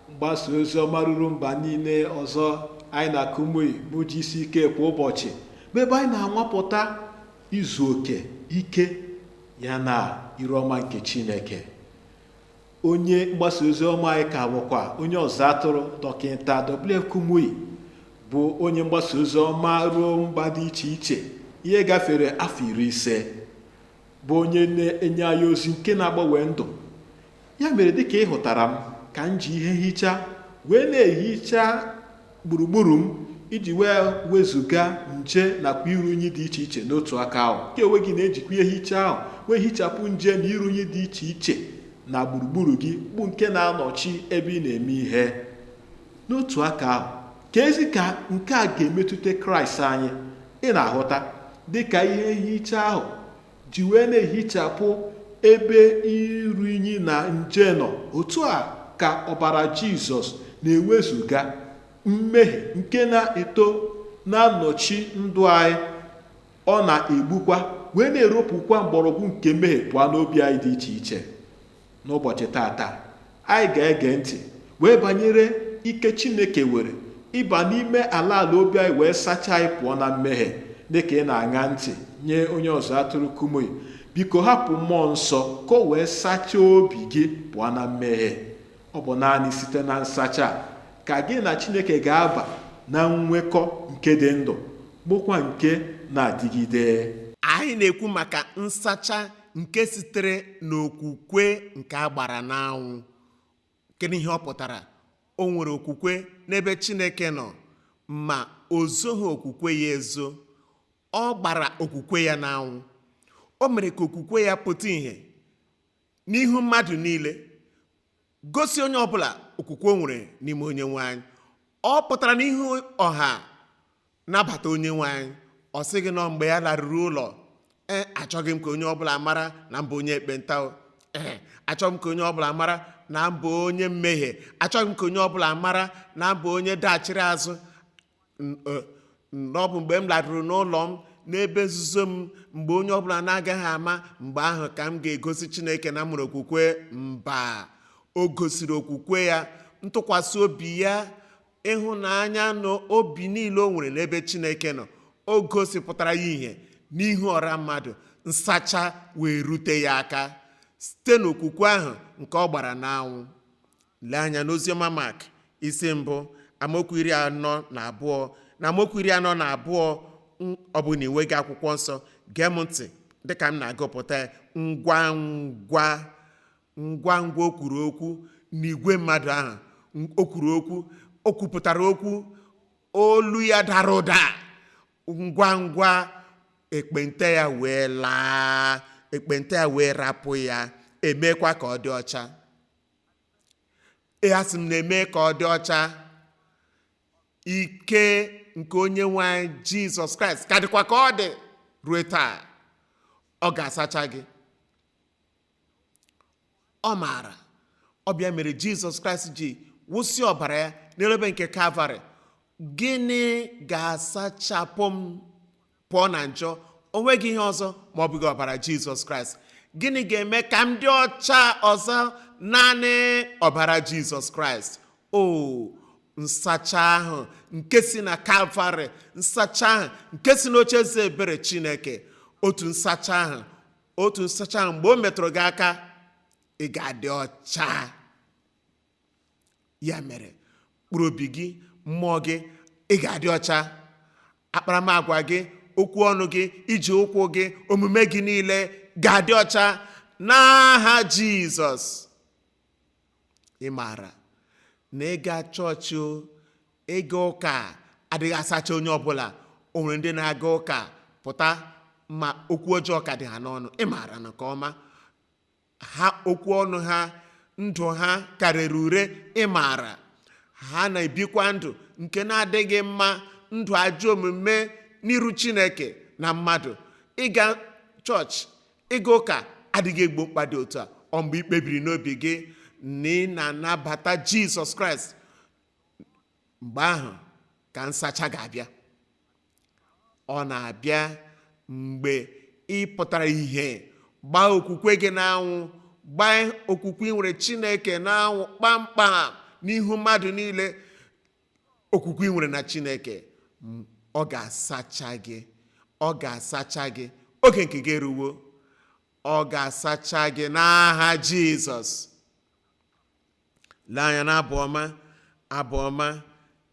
mgbasa ozi ọma ruru mba niile ọzọ anyị na kumuyi bụ gck kwa ụbọchị bụ ebe anyị na-anwapụta izu oke ike ya na iru ọma nke chineke onye mgbasa ozi ọma anyị ka bụkwa onye ọzụ atụrụ dọkịta wf kumuyi bụ onye mgbasa ozi ọma ruo mba dị iche iche ihe gafere afọ iri ise bụ onye na-enye anyị ozi nke na-agbanwe ndụ ya mere dịka ị hụtara m ka m ji ihe nhicha wee na-ehicha gburugburu m iji wee wezụga nje nakwa iru unyi dị iche iche n'otu aka ahụ ka onwe gị na-ejikwa ihe nhicha ahụ wee hichapụ nje na iru unyi dị iche iche na gburugburu gị bụ nke na-anọchi ebe ị na-eme ihe n'otu aka ahụ keezi ka nke a ga-emetụta kraịst anyị ị na-ahụta dị ka ihe nhicha ahụ ji wee na-ehichapụ ebe iru inyi na nje nọ otu a ka ọbara jizọs na-ewezụga mmehie nke na-eto na-anọchi ndụ anyị ọ na-egbukwa wee na-eropụkwa mgbọrọgwụ nke mmehie pụọ n'obi anyị dị iche iche N'ụbọchị tata, anyị ga-ege ntị wee banyere ike Chineke nwere ịba n'ime ala ala obi anyị wee sachaa anyị pụọ na mmehie dịka ị na-aṅa ntị nye onye ọzụ atụrụ Kumuyi biko hapụ mmụọ nsọ ka o wee sachaa obi gị pụọ na mmehie ọ bụ naanị site na nsacha ka gị na Chineke ga-aba na nnwekọ nke dị ndụ bụkwa nke na-adịgide anyị na-ekwu maka nsacha nke sitere n'okwukwe nke a gbara n'anwụ kedu ihe ọ pụtara o nwere okwukwe n'ebe chineke nọ ma o zoghị okwukwe ya ezo ọ gbara okwukwe ya n'anwụ o mere ka okwukwe ya pụta ìhè n'ihu mmadụ niile gosi onye ọbụla okwukwe o nwere n'ime onyenwe anyị ọ pụtara n'ihu ọha nabata onyenwe anyị ọ sịghị na ọ mgbe ya laruru ụlọ ee achọghị m ka onye ọbụla mara na m bụ onye ekpenta o. ee achọghị m ka onye ọbụla mara na m bụ onye mmehie achọghị m ka onye ọbụla mara na m bụ onye dachiri azụ N- eh, n- ọ bụ mgbe m laruru n'ụlọ m n'ebe nzuzo m mgbe onye ọbụla na-agaghị ama mgbe ahụ ka m ga-egosi chineke na m nwere okwukwe mba o gosiri okwukwe ya ntụkwasị obi ya ịhụnanya na obi niile o nwere n'ebe chineke nọ o gosipụtara ya ihe n'ihu ọra mmadụ nsacha wee rute ya aka site n'okwukwe ahụ nke ọ gbara n'anwụ Lee anya n'oziọma Mak isi mbụ amaokwu iri anọ na abụọ na amaokwu iri anọ na abụọ ọ bụ na i nweghị akwụkwọ nsọ gee m ntị dịka m na-agụpụta ya ngwa ngwa ngwa ngwa o kwuru okwu n'igwe mmadụ ahụ o kwuru okwu o kwupụtara okwu olu ya dara ụda ngwa ngwa ekpenta ya wee laa ekpenta ya wee rapụ ya e meekwa ka ọ dị ọcha Ee, asị m na e mee ka ọ dị ọcha ike nke onye nwe anyị jizọs kraịst ka dịkwa ka ọ dị ruo taa ọ ga-asacha gị ị maara ọ bụ ya mere jizọs kraịst ji wụsị ọbara ya n'elu obe nke kalvarị gịnị ga-asachapụ m pụọ na njọ o nweghị ihe ọzọ ma ọ bụghị ọbara jizọs kraịst gịnị ga-eme ka m dị ọcha ọzọ naanị ọbara jizọs kraịst o nsacha ahụ nke si na kalvarị nsacha ahụ nke si n'oche eze ebere chineke otu nsacha ahụ otu nsacha ahụ mgbe o metụrụ gị aka ị ga-adị ọcha ya mere mkpụrụ obi gị mmụọ gị ị ga-adị ọcha akparamagwa gị okwu ọnụ gị ije ụkwụ gị omume gị niile ga-adị ọcha n'aha jizọs ị maara na ịga chọọchị o ịga ụka adịghị asacha onye ọbụla o nwere ndị na-aga ụka pụta ma okwu ọjọọ ka dị ha n'ọnụ ị maara nke ọma ha okwu ọnụ ha ndụ ha ka rere ure ị maara ha na-ebikwa ndụ nke na-adịghị mma ndụ ajọ omume n'iru chineke na mmadụ ịga chọọchị ịga ụka adịghị egbo mkpa dị otu a ọ mgbe i kpebiri n'obi gị na ị na-anabata jizọs kraịst mgbe ahụ ka nsacha ga-abịa ọ na-abịa mgbe ị pụtara ihe gbaa okwukwe gị n'anwụ gbaa okwukwe i nwere chineke n'anwụ kpamkpam n'ihu mmadụ niile okwukwe i nwere na chineke ọ ga-asacha gị ọ ga-asacha gị oge nke gị eruwo ọ ga-asacha gị n'aha jizọs lee anya na abụ ọma abụ ọma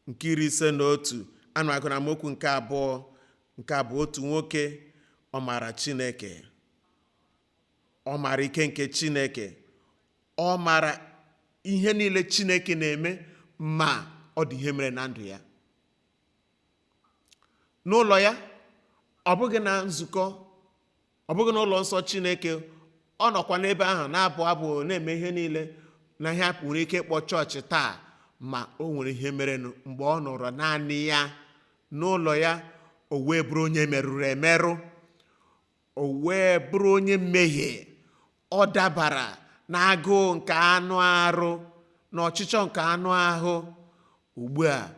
nke iri ise na otu ana m agụ na amaokwu nke abụọ nke a bụ otu nwoke ọ maara chineke ọ maara ike nke chineke ọ maara ihe niile chineke na-eme ma ọ dị ihe mere na ndụ ya n'ụlọ ya ọ bụghị na nzukọ ọ bụghị n'ụlọ nsọ chineke ọ nọkwa n'ebe ahụ na-abụ abụ na-eme ihe niile na ihe a nwere ike ịkpọ chọọchị taa ma o nwere ihe merenụ mgbe ọ nọrọ naanị ya n'ụlọ ya o wee bụrụ onye merụrụ emerụ o wee bụrụ onye mmehie ọ dabara na agụụ nke anụ arụ na ọchịchọ nke anụ ahụ ugbu a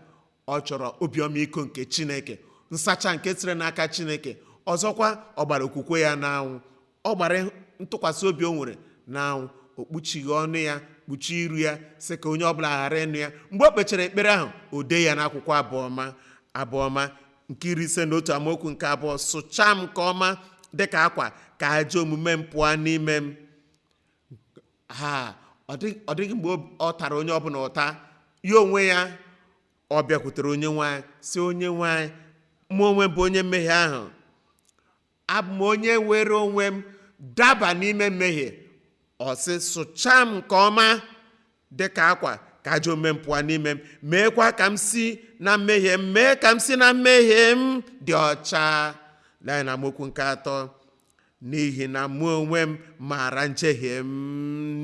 ọ chọrọ obi ọmịiko nke chineke nsacha nke sire n'aka chineke ọzọkwa ọ gbara okwukwe ya n'anwụ ọ gbara ntụkwasị obi o nwere n'anwụ o kpuchighị ọnụ ya kpuchie iru ya sị ka onye ọbụla ghara ịnụ ya mgbe o kpechara ekpere ahụ o dee ya n'akwụkwọ abụọma abụọma nke iri ise na otu amaokwu nke abụọ sụchaa m nke ọma dịka akwa ka ajọ omume m pụọ n'ime m ha ọ dị- ọ dịghị mgbe o- ọ tara onye ọbụla ụta ya onwe ya ọ bịakwutere onyenwe anyị sị onyenwe anyị mụ onwe m bụ onye mmehie ahụ abụ m onye were onwe m daba n'ime mmehie ọ sị sụchaa m nke ọma dị ka akwa ka ajọ omume m pụọ n'ime m meekwa ka m si na mmehie m mee ka m si na mmehie m dị ọcha lee na amaokwu nke atọ n'ihi na mụ onwe m maara njehie m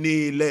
niile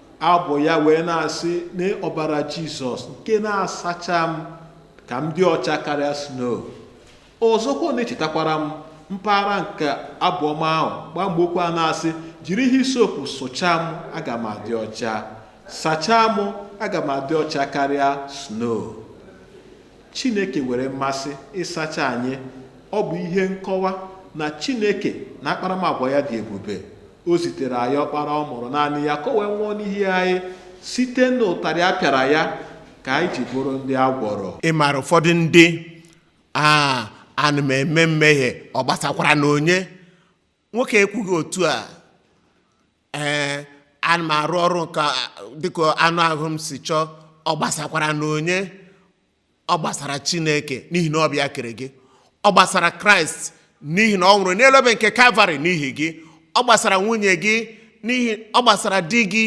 abụ ya wee na-asị na ọbara jizọs nke na-asacha m ka m dị ọcha karịa snow ọzọkwa ọ na-echetakwara m mpaghara nke abụ ọma ahụ gbamgbokwu a na-asị jiri hisopụ sụchaa m aga m adị ọcha sachaa m aga m adị ọcha karịa snow chineke nwere mmasị ịsacha anyị ọ bụ ihe nkọwa na chineke na akparamagwa ya dị ebube o zitere anyị ọkpara ọ mụrụ naanị ya ka o wee nwụọ n'ihi anyị site n'ụtarị a pịara ya ka anyị ji bụrụ ndị a gwọrọ ị maara ụfọdụ ndị a ana m eme mmehie ọ gbasakwaranụ onye nwoke ekwughị otu a ee ana m arụ ọrụ nke a- dịka anụ ahụ m si chọọ ọ gbasakwaranụ onye ọ gbasara chineke n'ihi na ọ bụ ya kere gị ọ gbasara kraịst n'ihi na ọ nwụrụ n'elu obe nke kalvarị n'ihi gị ọ gbasara nwunye gị n'ihi ọ gbasara di gị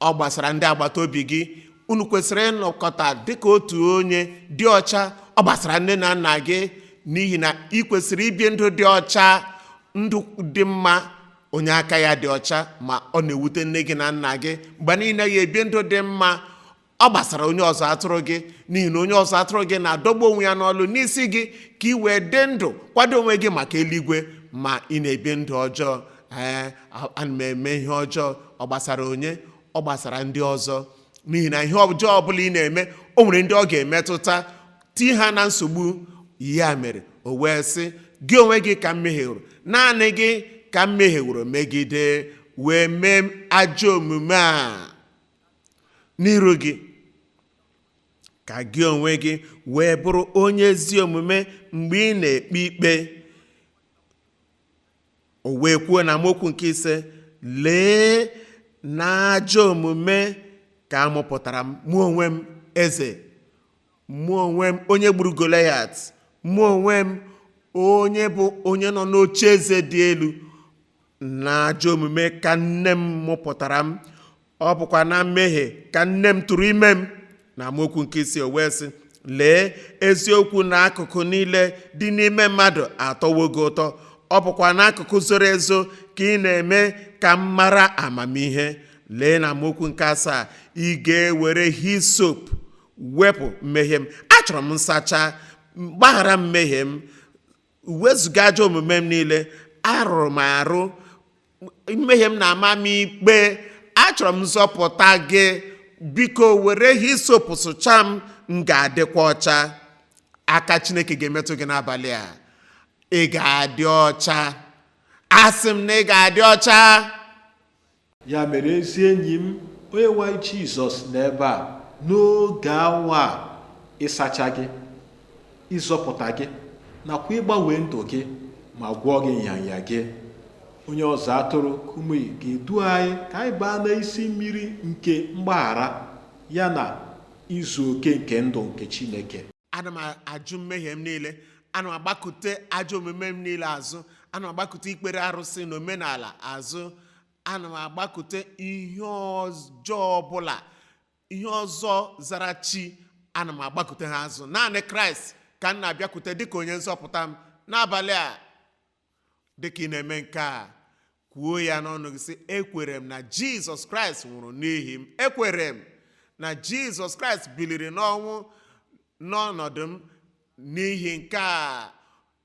ọ gbasara ndị agbata obi gị unu kwesịrị ịnọkọta dịka otu onye dị ọcha ọ gbasara nne na nna gị n'ihi na ị kwesịrị ibi ndụ dị ọcha ndụ dị mma onye aka ya dị ọcha ma ọ na-ewute nne gị na nna gị mgbe niile ị naghị ebi ndụ dị mma ọ gbasara onye ọzụzụ atụrụ gị n'ihi na onye ọzụzụ atụrụ gị na-adọgbu onwe ya n'ọlụ n'isi gị ka ị wee dị ndụ kwado onwe gị maka eluigwe ma ị na-ebi ndụ ọjọọ ee ana m eme ihe ọjọọ ọ gbasara onye ọ gbasara ndị ọzọ n'ihi na ihe ọjọọ ọbụla ị na-eme o nwere ndị ọ ga-emetụta tii ha na nsogbu ya mere o wee sị gị onwe gị ka m mehieworo naanị gị ka m mehieworo megide wee mee ajọ omume a n'iru gị ka gị onwe gị wee bụrụ onye ezi omume mgbe ị na-ekpe ikpe o wee kwuo n'amaokwu nke ise lee n'ajọ omume ka a mụpụtara m mụ onwe m eze mụ onwe m onye gburu goliat mụ onwe m onye bụ onye nọ n'oche eze dị elu n'ajọ omume ka nne m mụpụtara m ọ bụkwa na mmehie ka nne m tụrụ ime m n'amaokwu nke isii o wee sị lee eziokwu n'akụkụ niile dị n'ime mmadụ atọwo gị ụtọ ọ bụkwa n'akụkụ zoro ezo ka ị na-eme ka m mara amamihe lee n'amaokwu nke asaa ị ga-ewere hisop wepụ mmehie m achọrọ m nsacha gbaghara mmehie m wezụga ajọ omume m niile arụrụ m arụ mmehie m na-ama m ikpe achọrọ m nzọpụta gị biko were hisop sụchaa m m ga-adịkwa ọcha aka chineke ga-emetụ gị n'abalị a ị ga-adị ọcha asị m na ị ga-adị ọcha Ya mere ezi enyi m, Onyenwe anyị Jizọs nọ ebe a n'oge awa a ịsacha gị, ịzọpụta gị, nakwa ịgbanwe ndụ gị ma gwọọ gị nrịanrịa gị. Onye ọzụzụ atụrụ Kumuyi ga-edu anyị ka anyị baa n'isi mmiri nke mgbaghara ya na izu oke nke ndụ nke Chineke. ana m ajụ mmehie m niile ana m agbakute ajọ omume m niile azụ ana m agbakute ikpere arụsị na omenala azụ ana m agbakute ihe ọjọọ ọbụla ihe ọzọ zara chi ana m agbakute ha azụ naanị kraịst ka m na-abịakwute dịka onye nzọpụta m n'abalị a dịka ị na-eme nke a kwuo ya n'ọnụ gị sị ekwere m na jizọs kraịst nwụrụ n'ihi m ekwere m na jizọs kraịst biliri n'ọnwụ n'ọnọdụ m n'ihi nke a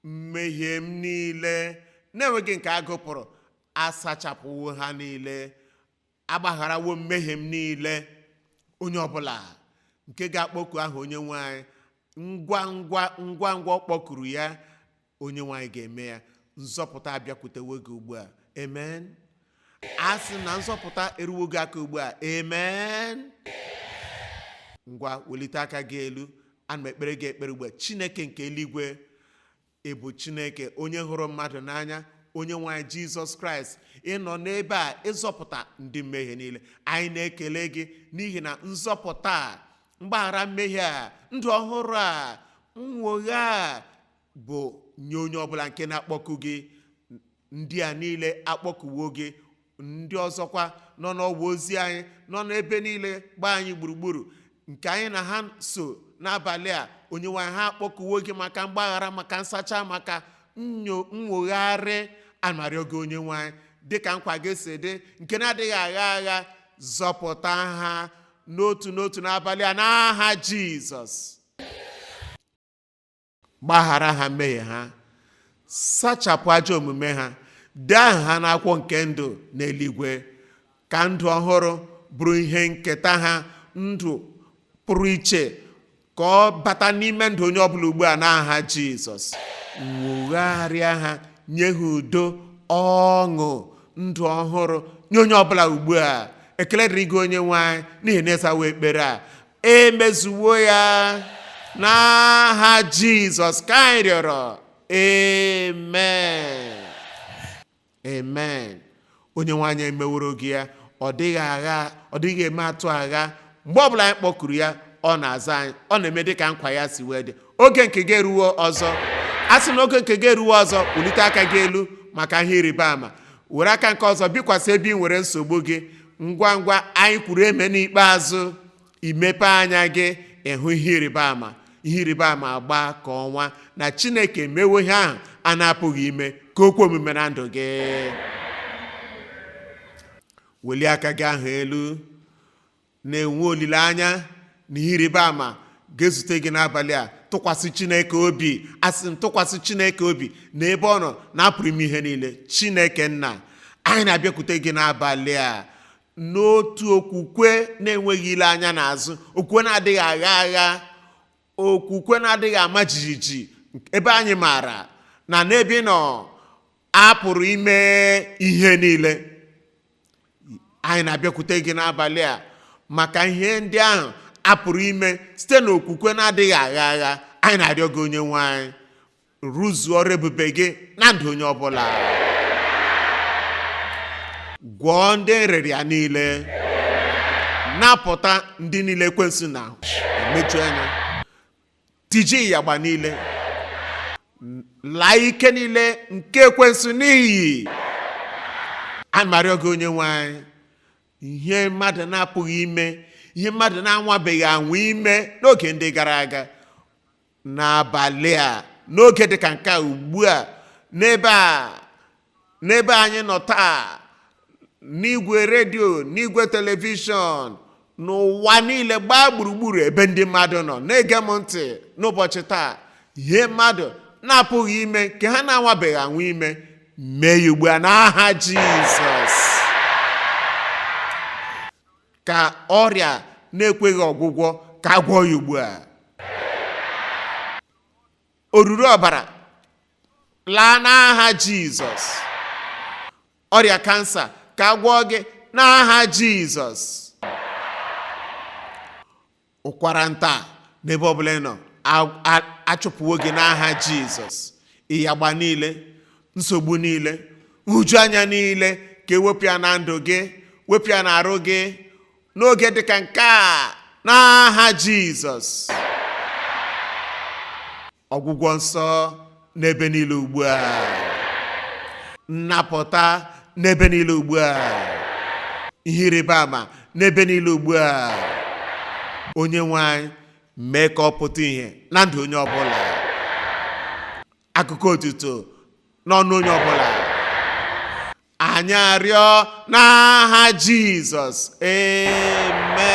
mmehie m niile na-enweghị nke a gụpụrụ asachapụwo ha niile agbagharawo mmehie m niile onye ọbụla nke ga-akpọku aha onye nwe anyị ngwa ngwa ngwa ngwa ọ kpọkuru ya Onyenwe anyị ga-eme ya. Nzọpụta abịakwutewo gị ugbu a. Amen. A sị na nzọpụta eruwo gị aka ugbu a. Amen. Ngwa welite aka gị elu. Ana m ekpere gị ekpere ugbu a. Chineke nke eluigwe ị bụ Chineke onye hụrụ mmadụ n'anya Onyenwe anyị Jizọs Kraịst ị nọ n'ebe a ịzọpụta ndị mmehie niile anyị na-ekele gị n'ihi na nzọpụta a mgbaghara mmehie a ndụ ọhụrụ a nnwogha a bụ nye onye ọbụla nke na-akpọku gị ndị a niile akpọkuwo gị ndị ọzọkwa nọ n'ọwa ozi anyị nọ n'ebe niile gbaa anyị gburugburu nke anyị na ha so n'abalị a onyenwe anyị ha akpọkuwo gị maka mgbaghara maka nsacha maka nwogharị a na-arịọ gị onyenwe anyị dịka nkwa gị si dị nke na-adịghị agha agha zọpụta ha n'otu n'otu n'abalị a n'aha jizọs gbaghara ha mmehie ha sachapụ ajọ omume ha dee aha ha n'akwụkwọ nke ndụ n'eluigwe ka ndụ ọhụrụ bụrụ ihe nketa ha ndụ pụrụ iche ka ọ bata n'ime ndụ onye ọbụla ugbu a n'aha jizọs nwogharịa ha nye ha udo ọṅụ ndụ ọhụrụ nye onye ọbụla ugbu a ekele dịrị gị onye nwe anyị n'ihi na ị zawo ekpere a emezuwo ya n'aha jizọs ka anyị rịọrọ amen amen onyenwe anyị emeworo gị ya ọ dịghị agha ọ dịghị eme atụ agha mgbe ọbụla anyị kpọkuru ya ọ na-aza anyị ọ na-eme dịka nkwa ya si wee dị oge nke gị eruwo ọzọ a sị na oge nke gị eruwo ọzọ welite aka gị elu maka ihe ịrịba ama were aka nke ọzọ bikwasị ebe ị nwere nsogbu gị ngwa ngwa anyị kwuru amen ikpeazụ i mepee anya gị ị hụ ihe ịrịba ama ihe ịrịba ama agba ka ọnwa na chineke mewo ihe ahụ a na-apụghị ime ka o kwe omume na ndụ gị welie aka gị ahụ elu na-enwe olileanya na ihe ịrịba ama ga-ezute gị n'abalị a tụkwasị chineke obi asị m tụkwasị chineke obi na ebe ọ nọ na a pụrụ ime ihe niile chineke nna anyị na-abịakwute gị n'abalị a n'otu okwukwe na-enweghị ile anya n'azụ okwukwe na-adịghị agha agha okwukwe na-adịghị ama jijiji ebe anyị maara na n'ebe ị nọ a pụrụ ime ihe niile anyị na-abịakwute gị n'abalị a maka ihe ndị ahụ a pụrụ ime site n'okwukwe na-adịghị agha agha anyị na-arịọ gị onye nwe anyị rụzuo ọrụ ebube gị na ndụ onye ọbụla gwọọ ndị nrịrịa niile napụta ndị niile ekwensu na-emeju anya tijie ịyagba niile laa ike niile nke ekwensu n'iyi ana m arịọ gị onye nwe anyị ihe mmadụ na-apụghị ime ihe mmadụ na-anwabeghị anwa ime n'oge ndị gara aga n'abalị a n'oge dị ka nke a ugbu a n'ebe a n'ebe anyị nọ taa n'igwe redio n'igwe telivishọn n'ụwa niile gbaa gburugburu ebe ndị mmadụ nọ na-ege m ntị n'ụbọchị taa ihe mmadụ na-apụghị ime nke ha na-anwabeghị anwa ime mee ya ugbu a n'aha jizọs ka ọrịa na-ekweghị ọgwụgwọ ka a gwọọ ya ugbu a oruru ọbara laa n'aha jizọs ọrịa kansa ka a gwọọ gị n'aha jizọs ụkwara nta n'ebe ọbụla ị nọ a- a- achụpụwo gị n'aha jizọs ịyagba niile nsogbu niile nhụjuanya niile ka e wepụ ya na ndụ gị wepụ ya n'arụ gị n'oge dịka nke a n'aha jizọs ọgwụgwọ nsọ n'ebe niile ugbu a nnapụta n'ebe niile ugbu a ihe ịrịba ama n'ebe niile ugbu a onye nwe anyị mee ka ọ pụta ihe na ndụ onye ọbụla akụkọ otuto n'ọnụ onye ọbụla anyị arịọ n'aha jizọs amen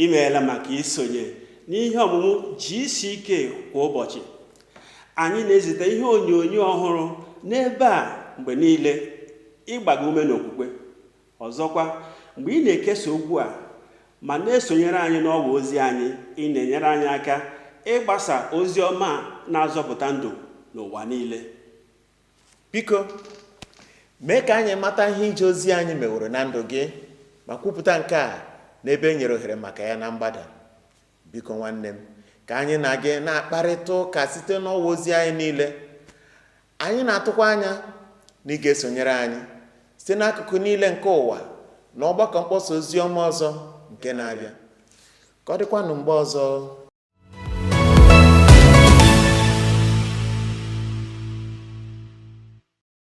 imeela maka isonye n'ihe ọmụmụ GCK kwa ụbọchị anyị na-ezite ihe onyonyo ọhụrụ n'ebe a mgbe niile ịgba gị ume n'okwukwe Ọzọkwa, mgbe ị na-ekesa okwu a ma na-esonyere anyị n'ọwa ozi anyị, ị na-enyere anyị aka ịgbasa ozi ọma na-azọpụta ndụ n'ụwa niile. Biko, mee ka anyị mata ihe ije ozi anyị meworo na ndụ gị ma kwupụta nke a n'ebe e nyere ohere maka ya na mgbada. Biko nwanne m, ka anyị na gị na-akparịta ụka site n'ọwa ozi anyị niile. Anyị na-atụkwa anya na ị ga-esonyere anyị site n'akụkụ niile nke ụwa na ọgbakọ mkpọsa ozi ọma ọzọ nke na-abịa. Ka ọ dịkwanụ mgbe ọzọ